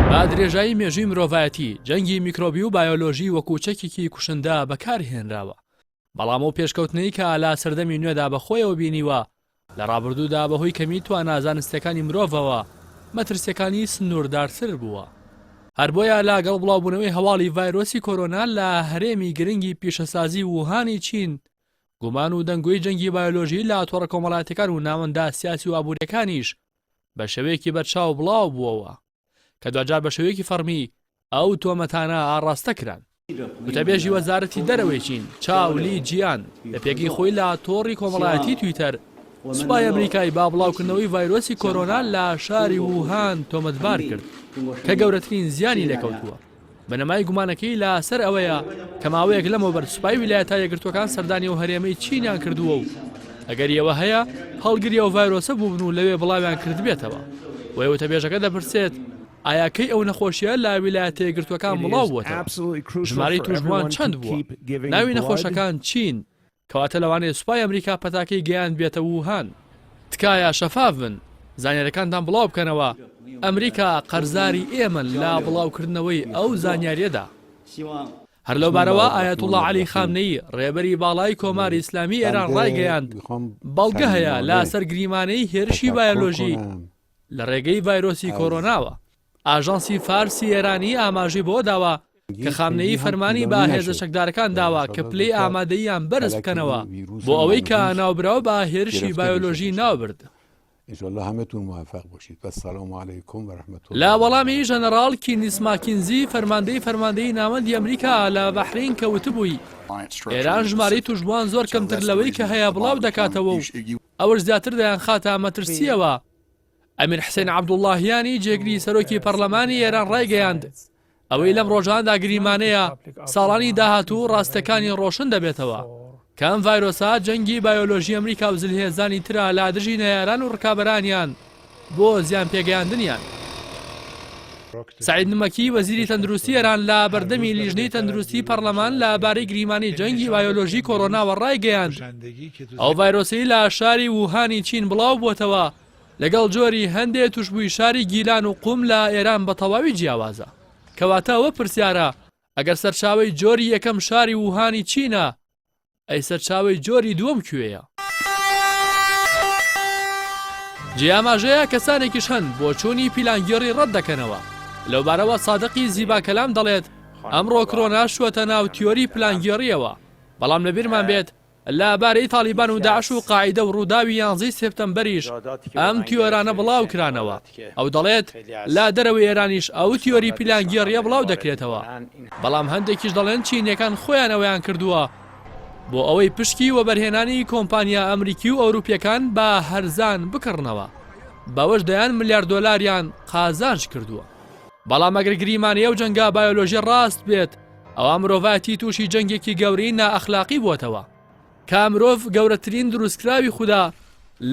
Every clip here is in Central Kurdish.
بە درێژایی مێژووی مرۆڤایەتی جەنگی میکرۆبی و بایۆلۆژی وەکوو چەکێکی کوشندە بەکارهێنراوە بەڵام ئەو پێشکەوتنەی کە لە سەردەمی نوێدا بە خۆیەوە بینیوە لە ڕابردوودا بەهۆی کەمی توانا زانستییەکانی مرۆڤەوە مەترسییەکانی سنووردارتر بووە. هەر بۆیە لە گەڵ بڵاوبوونەوەی هەواڵی ڤایرۆسی کۆرۆنا لە هەرێمی گرنگی پیشەسازی ووهانی چین، گومان و دەنگۆی جەنگی بایۆلۆژی لە تۆڕە کۆمەڵایەتیەکان و ناوەندە سیاسی و ئابووریەکانیش بە شێوەیەکی بەرچاو بڵاو بووەوە. کە دواجار بە شێوەیەکی فەڕمی ئەو تۆمەتانە ئاڕاستە کران. وتەبێژی وەزارەتی دەرەوەی چین چاو لی جیان لە پێگەی خۆی لە تۆڕی کۆمەڵایەتی تویتەر سوپای ئەمریکای با بڵاوکردنەوەی ڤایرۆسی کۆرۆنا لە شاری ووهان تۆمەتبار کرد کە گەورەترین زیانی لێکەوتووە. بنەمای گومانەکەی لە سەر ئەوەیە کە ماوەیەک لەمەوبەر سوپای ویلایەتە یەکگرتووەکان سەردانی ئەو هەرێمەی چینیان کردووە و ئەگەری ئەوە هەیە هەڵگری ئەو ڤایرۆسە بووبن و لەوێ بڵاویان کردبێتەوە وەی وتەبێژەکە دەپرسێت ئایا کەی ئەو نەخۆشیە لە ویلایەتە یەکگرتووەکان بڵاو بووەتەوە ژمارەی توشبووان چەند بووە ناوی نەخۆشەکان چین کەواتە لەوانەیە سوپای ئەمریکا پەتاکەی گەیاندبێتە ووهان. تکایە شەفاف بن زانیارەکانتان بڵاو بکەنەوە ئەمریکا قەرزاری ئێمەن لە بڵاو کردنەوەی ئەو زانیاریەدا. هەر لەو بارەوە ئایەتوڵا عەلی خامنەیی ڕێبەری باڵای کۆماری ئیسلامی ئێران ڕایگەیاند بەڵگە هەیە لاسەر گریمانەی هێرشی بایۆلۆژی لە ڕێگەی ڤایرۆسی کۆرۆناوە. ئاژانسی فارسی ئێرانی ئاماژەی بەوە داوە کە خامنەیی فەرمانی بە هێزە چەکدارەکان داوە کە پلەی ئامادەییان بەرز بکەنەوە بۆ ئەوەی کە ناوبراو بە هێرشی بایۆلۆژی ناوبرد. لە وەڵامی ژەنەڕاڵ کینیس ماکینزی فەرماندەی فەرماندەیی ناوەندی ئەمریکا لە بەحرەین کە وتبووی ئێران ژمارەی تووشبووان زۆر کەمتر لەوەی کە هەیە بڵاو دەکاتەوە و ئەوەش زیاتر دەیانخاتە مەترسییەوە، ئەمیر حسێن عەبدوڵڵاهیانی جێگری سەرۆکی پەرلەمانی ئێران ڕایگەیاند، ئەوەی لەم ڕۆژانەدا گریمانەیە ساڵانی داهاتوو ڕاستییەکانی ڕۆشن دەبێتەوە، کە ئەم ڤایرۆسە جەنگی بایۆلۆژی ئەمریکا و زلهێزانی ترە لە دژی نەیاران و ڕکابەرانیان بۆ زیان پێگەیاندنیان. سەعید نمەکی وەزیری تەندروستی ئێران لە بەردەمی لیژنەی تەندروستی پەڕلەمان لە بارەی گریمانەی جەنگی بایۆلۆژی کۆرۆناوە ڕایگەیاند، ئەو ڤایرۆسەی لە شاری ووهانی چین بڵاو بۆتەوە لەگەڵ جۆری هەندێ توشبووی شاری گیلان و قوم لە ئێران بە تەواوی جیاوازە. کەواتە ئەوە پرسیارە ئەگەر سەرچاوەی جۆری یەکەم شاری ووهانی چینە، ئەی سەرچاوەی جۆری دووەم کوێیە؟ جێی ئاماژەیە کەسانێکیش هەن بۆچوونی پیلانگێڕی ڕەت دەکەنەوە. لەوبارەوە سادقی زیباکەلام دەڵێت، ئەمڕۆ کرۆنا شووەتە ناو تیۆری پلانگێڕییەوە، بەڵام لەبیرمان بێت لە بارەی تاڵیبان و داعش و قاعیدە و ڕووداوی یانزەی سێپتەمبەریش ئەم تیۆرانە بڵاوکرانەوە. ئەو دەڵێت، لە دەرەوەی ئێرانیش ئەو تیۆری پیلانگێڕییە بڵاو دەکرێتەوە، بەڵام هەندێکیش دەڵێن چینییەکان خۆیان ئەوەیان کردووە بۆ ئەوەی پشکی وەبەرهێنانی کۆمپانیا ئەمریکی و ئەوروپییەکان بە هەرزان بکڕنەوە، بەوەش دەیان ملیار دۆلاریان قازانج کردووە. بەڵام ئەگەر گریمانەی ئەو جەنگە بایۆلۆژییە ڕاست بێت، ئەوا مرۆڤایەتی تووشی جەنگێکی گەورەی نائەخلاقی بووەتەوە. کە مرۆڤ گەورەترین دروستکراوی خودا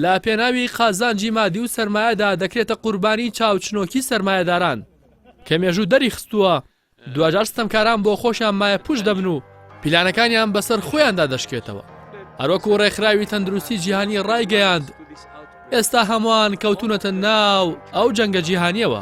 لە پێناوی قازانجی مادی و سەرمایەدا دەکرێتە قوربانی چاوچنۆکی سەرمایەداران کە مێژوو دەریخستووە دواجار ستەمکاران بۆ خۆشیان مایە پوش دەبن و پیلانەکانیان بەسەر خۆیاندا دەشکێتەوە هەروەکو ڕێکخراوی تەندروستی جیهانی ڕایگەیاند ئێستا هەمووان کەوتونەتە ناو ئەو جەنگە جیهانیەوە